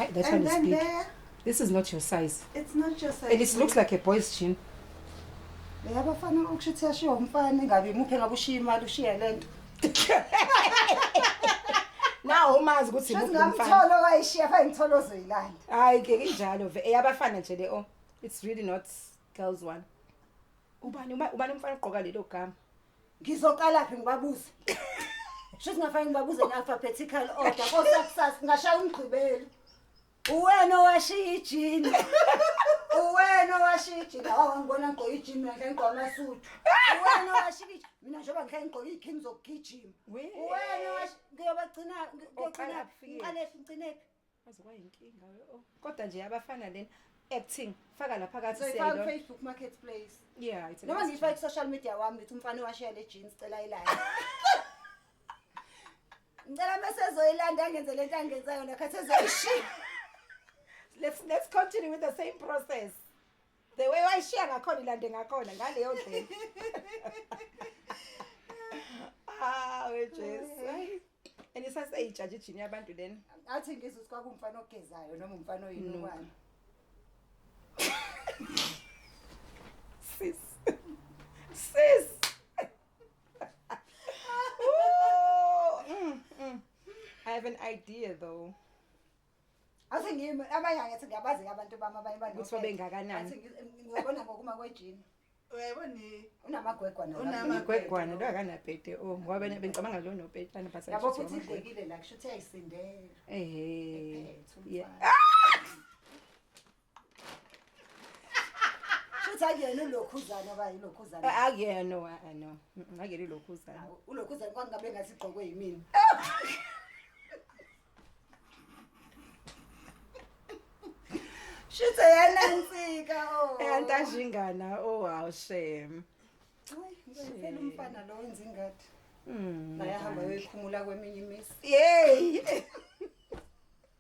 Hey, that and then big. there. This is not your size. It's not your size. And it looks like a boy's jean. Yabafana ukusho ukuthi yashiya umfana ingabe imuphe ngabe ushiya imali ushiya lento. nawo umazi ukuthi ngamtholo wayishiya fa ngitholo zoyilanda hayi ke injalo ve eyabafana nje le oh it's really not girls one ubani ubani umfana ugqoka lelo gama Ngizoqalaphi ngibabuze? Sho singafanele ngibabuze ne-alphabetical order kosakusasa ngashaya umgqibelo. Uwena owashiya ijini. Uwena owashiya ijini. Hawu angibona ngigqoka ijini mina ngihla ngigqoka amasuthu. Uwena owashiya ijini. Mina njengoba ngihla ngigqoka iy'khini zokugijima. Uwena owashiya ngiyobagcina ngiyogcinaphi? Ngiqalephi ngigcinephi? Aze kwayinkinga we oh. Kodwa nje abafana lena acting faka lapha So kathi ifaka selo. Facebook marketplace. Yeah, it's a Noma nice ngifake ku social media wami ngithi umfana washiya le jeans cela ilanda. Ngicela mase ezoyilanda angenze lento angenza yona khathi ezoyishiya. Let's let's continue with the same process. the way wayishiya ngakhona ilande ngakhona ngaleyo ndlela ah wejesu and isaseyitshatsha ijini yabantu lena athi ngizwe ukuthi kwakumfana ogezayo noma umfana oyinokwane sis sis Ooh, mm, mm. I have an idea though. Ase ngimi abanye angithi ngiyabazi abantu bami abanye bani. Ukuthi babengakanani. Athi ngizobona ngokuma kwejini. Uyayibona ni unamagwegwa na. Unamagwegwa na akana pete o oh, ngoba bena bengicabanga lo no pete ana pastor. Yabo futhi idlekile la kusho ukuthi ayisindela. Ehhe. Yeah. Futhi akuyena ulokhuzana oba yilokhuzana. Akuyena no, ah, no. Mm, Akuyena ilokhuzana. Awu, Ulokhuzana kwangabe ngathi igqokwe yimina. Shithe yena nsika oh. Eh antajingana oh wow shame. Hayi, ngempela umfana lo wenza ingadi. Mm. Naye ahamba yoyikhumula kweminye imisi. Yay.